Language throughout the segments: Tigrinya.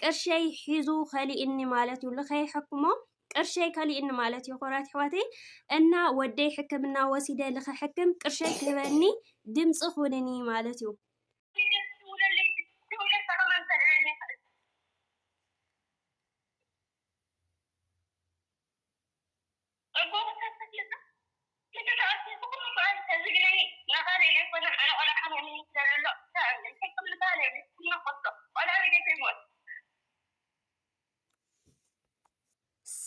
ቅርሸይ ሒዙ ከሊእኒ ማለት እዩ ልኸይሐክሞ ቅርሸይ ከሊእኒ ማለት እዩ ኮራት ሕዋተይ እና ወደይ ሕክምና ወሲደ ልኸሕክም ቅርሸይ ክህበኒ ድምፂ ኩንኒ ማለት እዩ ኣብ ጎቦታት ተክልታት ክንዲ ተኣኪቡ ኩሉ መዓልቲ ተዝግነኒ ንቓለይ ዘይኮነ ኣነ ቆልዓ ሓሚሙኒ ስለዘሎ ኣታ እምነይ ሕክም ንቓለይ ኢለ ክሕመቆቶ ቆልዓ ቢለይ ከይሞት።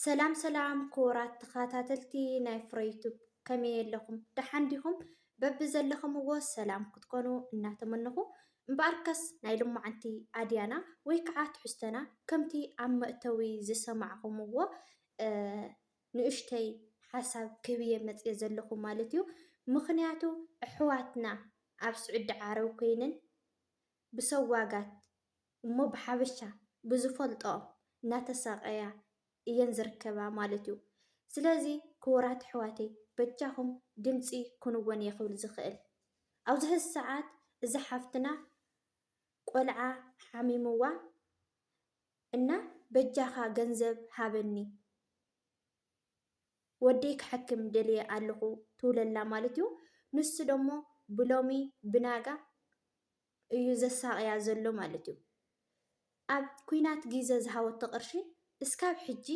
ሰላም ሰላም ክቡራት ተኸታተልቲ ናይ ፍረ ዩቱብ ከመይ ኣለኹም ደሓን ዲኹም? በብዘለኹምዎ ሰላም ክትኮኑ እናተመነኹ እምበኣርከስ ናይ ሎማዓንቲ ኣድያና ወይ ከዓ ትሕዝቶና ከምቲ ኣብ መእተዊ ዝሰማዕኹምዎ ንኡሽተይ ሓሳብ ክህብየ መጽየ ዘለኹ ማለት እዩ ምኽንያቱ ኣሕዋትና ኣብ ስዑዲ ዓረብ ኮይነን ብሰዋጋት እሞ ብሓበሻ ብዝፈልጠኦ እናተሳቀያ እየን ዝርከባ ማለት እዩ ስለዚ ክቡራት ኣሕዋተይ በጃኹም ድምጺ ኩንወን እየ ክብል ዝኽእል ኣብዚ ሕዚ ሰዓት እዛ ሓፍትና ቆልዓ ሓሚምዋ እና በጃኻ ገንዘብ ሃበኒ ወደይ ክሐክም ደልየ ኣለኹ ትብለላ ማለት እዩ። ንሱ ደሞ ብሎሚ ብናጋ እዩ ዘሳቕያ ዘሎ ማለት እዩ። ኣብ ኩናት ግዘ ዝሃበቶ ቅርሺ እስካብ ሕጂ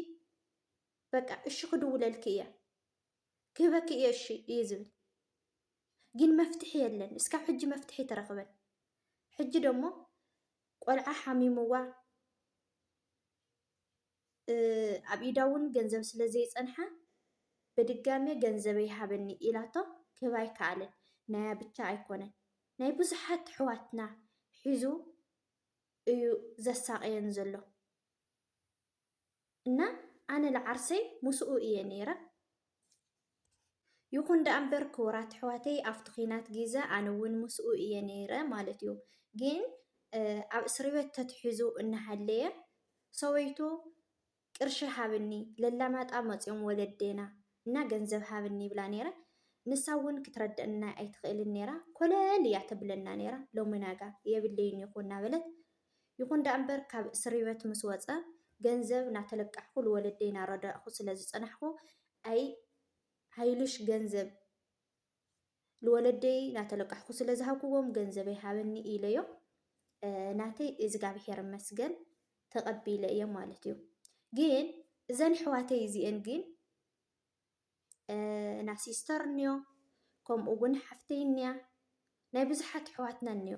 በቃ እሺ ክድውለልኪ እየ ክህበኪ እየ እሺ እዩ ዝብል ግን መፍትሒ የለን። እስካብ ሕጂ መፍትሒ ተረኽበን ሕጂ ደሞ ቆልዓ ሓሚሙዋ ኣብ ኢዳ እውን ገንዘብ ስለ ዘይፀንሐ በድጋሜ ገንዘበይ ሃበኒ ኢላቶ ክህባ ኣይከኣለን። ናያ ብቻ ኣይኮነን ናይ ብዙሓት ኣሕዋትና ሒዙ እዩ ዘሳቕየን ዘሎ። እና ኣነ ልዓርሰይ ሙሱኡ እየ ነይረ ይኩን ዳኣ እምበር ክቡራት ኣሕዋተይ ኣፍቲ ኩናት ጊዘ ኣነ እውን ሙሱኡ እየ ነይረ ማለት እዩ ግን ኣብ እስርቤት ተትሒዙ እናሃለየ ሰበይቱ ቅርሺ ሃብኒ ለላማጣ መፅዮም ወለዴና እና ገንዘብ ሃብኒ ይብላ ነይረ ንሳ እውን ክትረደእና ኣይትክእልን ነይራ ኮለል እያ ተብለና ነይራ ሎሚናጋ የብለይን ይኩ እናበለት ይኹን ደኣምበር ካብ እስሪበት ምስ ወጸ ገንዘብ ናተለቃሕኩ ልወለደይ ናረዳእኹ ስለ ዝጸናሕኩ ኣይ ሃይሉሽ ገንዘብ ልወለደይ ናተለቃሕኩ ስለ ዝሃብኩዎም ገንዘበይ ሃበኒ ኢለዮ ናተይ እዝጋብሄር መስገን ተቐቢለ እየ ማለት እዩ ግን እዘን ሕዋተይ እዚኤን ግን ና ሲስተር እኒዮ ከምኡ እውን ሓፍተይ እኒያ ናይ ብዙሓት ሕዋትና እኒዮ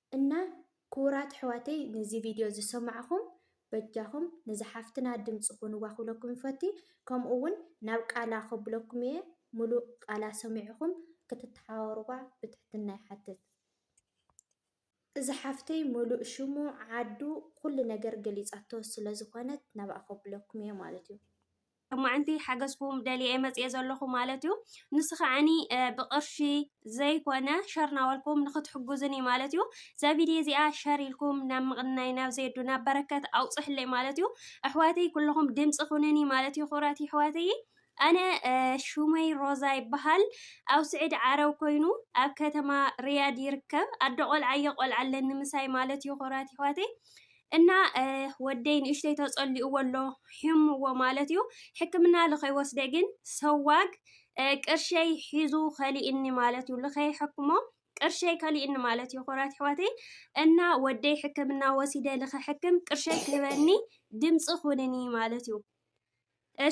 እና ክቡራት ኣሕዋተይ ነዚ ቪድዮ ዝሰማዕኹም በጃኹም ነዛ ሓፍትና ድምፂ ኩንዋ ክብለኩም ይፈቲ ከምኡ እውን ናብ ቃላ ከብለኩም እየ ሙሉእ ቃላ ሰሚዕኹም ክትተሓባበሩዋ ብትሕትና ይሓትት። እዛ ሓፍተይ ሙሉእ ሽሙ ዓዱ ኩሉ ነገር ገሊፃቶ ስለዝኾነት ናብኣ ከብለኩም እየ ማለት እዩ። ሎማዕንቲ ሓገዝኩም ደልየ መፅየ ዘለኹ ማለት እዩ ንስ ከዓኒ ብቅርሺ ዘይኮነ ሸር ናበልኩም ንክትሕጉዝን እዩ ማለት እዩ እዛ ቪድዮ እዚኣ ሸር ኢልኩም ናብ ምቕናይ ናብ ዜዱ ናብ በረከት ኣውፅሕለይ ማለት እዩ ኣሕዋተይ ኩለኹም ድምፂ ኩንኒ ማለት እዩ ክብራት ይሕዋተይ ኣነ ሹመይ ሮዛ ይበሃል ኣብ ስዒድ ዓረብ ኮይኑ ኣብ ከተማ ርያድ ይርከብ ኣደ ቆልዓዮ ቆልዓ ኣለኒ ምሳይ ማለት እዩ ክብራት ይሕዋተይ እና ወደይ ንእሽተይ ተጸሊኡዎ ኣሎ ሒሙዎ ማለት እዩ ሕክምና ልኸይወስደ ግን ሰዋግ ቅርሸይ ሒዙ ከሊእኒ ማለት እዩ ልኸይሐክሞ ቅርሸይ ከሊእኒ ማለት እዩ ኮራት ሕዋተይ እና ወደይ ሕክምና ወሲደ ልኸሕክም ቅርሸይ ክህበኒ ድምፂ ኩንኒ ማለት እዩ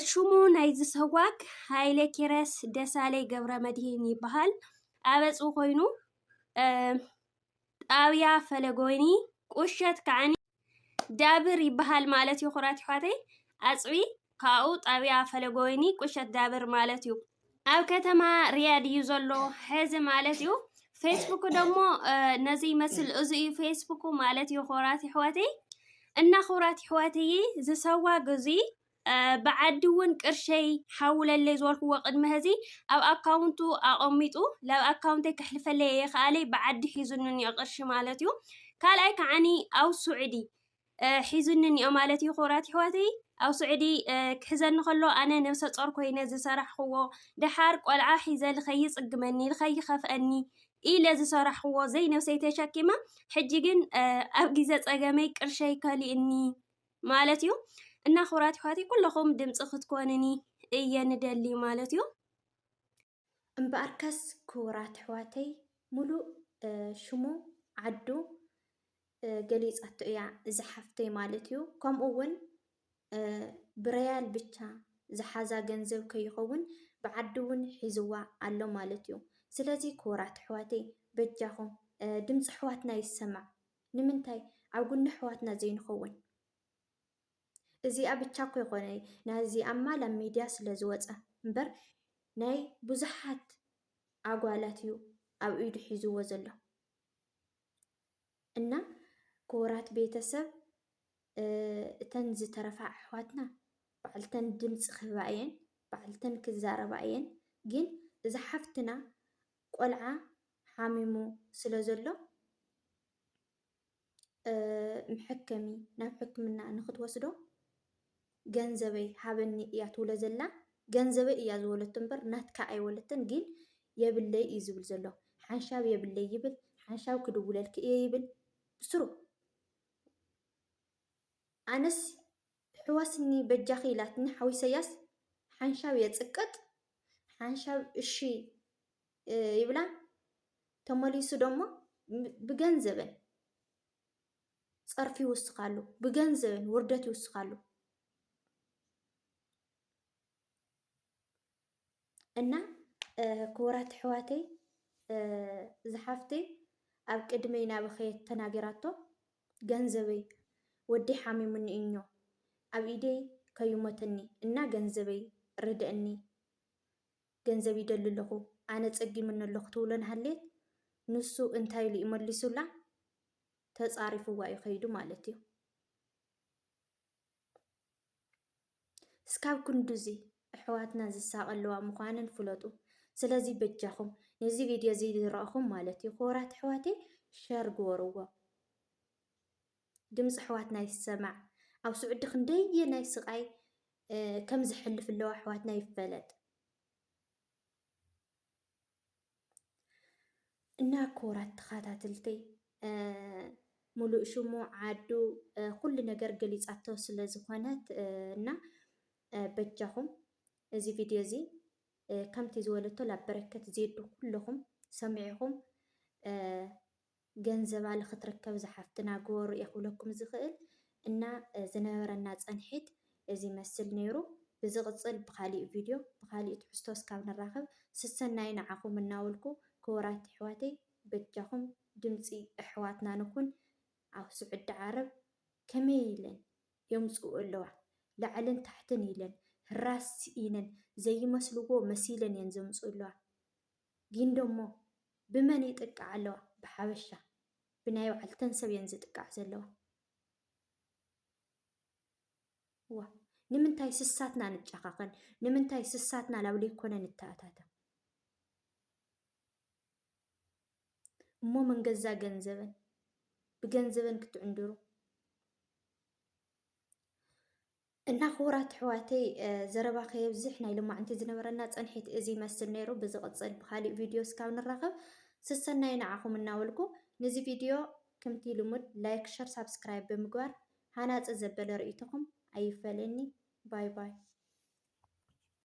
ሽሙ ናይዚ ሰዋግ ሃይለ ኪረስ ደሳለይ ገብረ መድሂን ይበሃል ኣበፅ ኮይኑ ጣብያ ፈለጎይኒ ቁሸት ከዓኒ ዳብር ይበሃል ማለት እዩ ኩራት ይሕዋተይ ኣፅቢ ካብኡ ጣብያ ፈለጎይኒ ቁሸት ዳብር ማለት እዩ ኣብ ከተማ ሪያድ እዩ ዘሎ ሕዚ ማለት እዩ ፌስቡክ ደግሞ ነዚ ይመስል እዚ እዩ ፌስቡክ ማለት እዩ ኩራት ይሕዋተይ እና ኩራት ይሕዋተይ ዝሰዋ ግዙይ ብዓዲ እውን ቅርሸይ ሓውለለይ ዝበልክዎ ቅድሚ ሕዚ ኣብ ኣካውንቱ ኣቐሚጡ ላብ ኣካውንተይ ከሕልፈለይ እየ ከኣለይ ብዓዲ ሒዙኒ እኒኦ ቅርሺ ማለት እዩ ካልኣይ ከዓኒ ኣብ ሱዕዲ ሒዙኒ እኒኦ ማለት እዩ ክብራት ይሕዋተይ ኣብ ስዑዲ ክሕዘኒ ከሎ ኣነ ነብሰ ጾር ኮይነ ዝሰራሕኽዎ ደሓር ቆልዓ ሒዘ ልኸይ ይጽግመኒ ልኸይ ይኸፍአኒ ኢለ ዝሰራሕኽዎ ዘይነብሰይ ተሸኪመ ሕጂ ግን ኣብ ግዜ ጸገመይ ቅርሸይ ከሊእኒ ማለት እዩ እና ክብራት ይኳቲ ኩለኹም ድምፂ ክትኮንኒ እየ ንደሊ ማለት እዩ እምበኣርከስ ክቡራት ኣሕዋተይ ሙሉእ ሽሙ ዓዱ ገሊፃቶ እያ እዛ ሓፍተይ ማለት እዩ። ከምኡ እውን ብረያል ብቻ ዝሓዛ ገንዘብ ከይኸውን ብዓዲ እውን ሒዝዋ ኣሎ ማለት እዩ። ስለዚ ክቡራት ኣሕዋተይ በጃኹም ድምፂ ኣሕዋትና ይሰማዕ። ንምንታይ ኣብ ጉኒ ኣሕዋትና ዘይንኸውን እዚኣ ብቻ እኮ ይኮነ ናዚኣ እማ ላብ ሚድያ ስለ ዝወፀ እምበር ናይ ብዙሓት ኣጓላት እዩ ኣብ ኢዱ ሒዝዎ ዘሎ እና ክቡራት ቤተሰብ እተን ዝተረፋ ኣሕዋትና ባዕልተን ድምፂ ክህባ እየን ባዕልተን ክዛረባ እየን ግን እዛ ሓፍትና ቆልዓ ሓሚሙ ስለ ዘሎ መሐከሚ ናብ ሕክምና ንክትወስዶ ገንዘበይ ሃበኒ እያ ትብሎ ዘላ። ገንዘበይ እያ ዝበለቶ እምበር ናትካ ኣይበለትን። ግን የብለይ እዩ ዝብል ዘሎ። ሓንሻብ የብለይ ይብል፣ ሓንሻብ ክድውለልኪ እየ ይብል ብስሩ ኣነስ ትሕወስኒ በጃኺ ኢላትኒ ሓው ኢሰያስ ሓንሻብ የጽቅጥ ሓንሻብ እሺ ይብላ ተመሊሱ ደሞ ብገንዘበን ጸርፊ ይውስኻሉ ብገንዘበን ውርደት ይውስኻሉ። እና ክቡራት ኣሕዋተይ እዚ ሓፍተይ ኣብ ቅድመይ ናበኸየት ተናገራቶ ገንዘበይ ወዲ ሓሚሙኒ እኞ ኣብ ኢደይ ከይሞተኒ እና ገንዘበይ ርድእኒ ገንዘብ ይደሊ ኣለኹ ኣነ ፀጊሙኒ ኣለኹ ትብሎ ናሃለየት ንሱ እንታይ ኢሉ እዩ መሊሱላ ተፃሪፍዋ እዩ ከይዱ ማለት እዩ እስካብ ክንዱዚ እሕዋትና ዝሳቀልዋ ምኳነን ፍለጡ ስለዚ በጃኩም ነዚ ቪድዮ እዚ ዝረእኩም ማለት እዩ ክቡራት እሕዋተይ ሸር ግበርዎ ድምፂ እሕዋትና ይሰማዕ ኣብ ስዑዲ ክንደየ ናይ ስቃይ ከም ዝሕልፍ ኣለዋ እሕዋትና ይፈለጥ እና ክቡራት ተኸታተልተይ ሙሉእ ሽሙ ዓዱ ኩሉ ነገር ገሊፃቶ ስለ ዝኾነት እና በጃኹም እዚ ቪድዮ እዚ ከምቲ ዝበለቶ ላብ በረከት ዜዱ ኩለኹም ሰሚዕኹም ገንዘባ ልክትረከብ እዛ ሓፍትና ግበሩ እየ ክብለኩም ዝክእል እና ዝነበረና ፀንሒት እዚ ይመስል ነይሩ ብዝቅፅል ብካሊእ ቪድዮ ብካሊእ ትሕዝቶ እስካብ ንራከብ ስሰናዩ ንዓኩም እናበልኩ ክቡራት የሕዋተይ በጃኩም ድምፂ እሕዋትና ንኩን ኣብ ስዑዲ ዓረብ ከመይ ኢለን የምፅኡ ኣለዋ ላዕልን ታሕትን ኢለን ህራስ ኢነን ዘይመስልዎ መሲለን እየን ዘምፅኡ ኣለዋ። ጊንዶ እሞ ብመን ይጥቃዓ ኣለዋ ብሓበሻ ብናይ ባዕልተን ሰብ እየን ዝጥቃዕ ዘለዋ እዋ ንምንታይ ስሳትና ንጫኻኸን ንምንታይ ስሳትና ላብ ዘይኮነ ንተኣታተ እሞ መንገዛ ገንዘበን ብገንዘበን ክትዕንድሩ እና ክቡራት ኣሕዋተይ ዘረባ ከየብዝሕ ናይ ልማዕንቲ ዝነበረና ፀንሒት እዚ ይመስል ነይሩ። ብዝቕፅል ብካሊእ ቪድዮ እስካብ ንራኸብ ስሰናዩ ንዓኹም እናበልኩ ንዚ ቪድዮ ክምቲ ልሙድ ላይክ፣ ሸር፣ ሳብስክራይብ ብምግባር ሃናፂ ዘበለ ርእይቶኹም ኣይፈለየኒ። ባይ ባይ።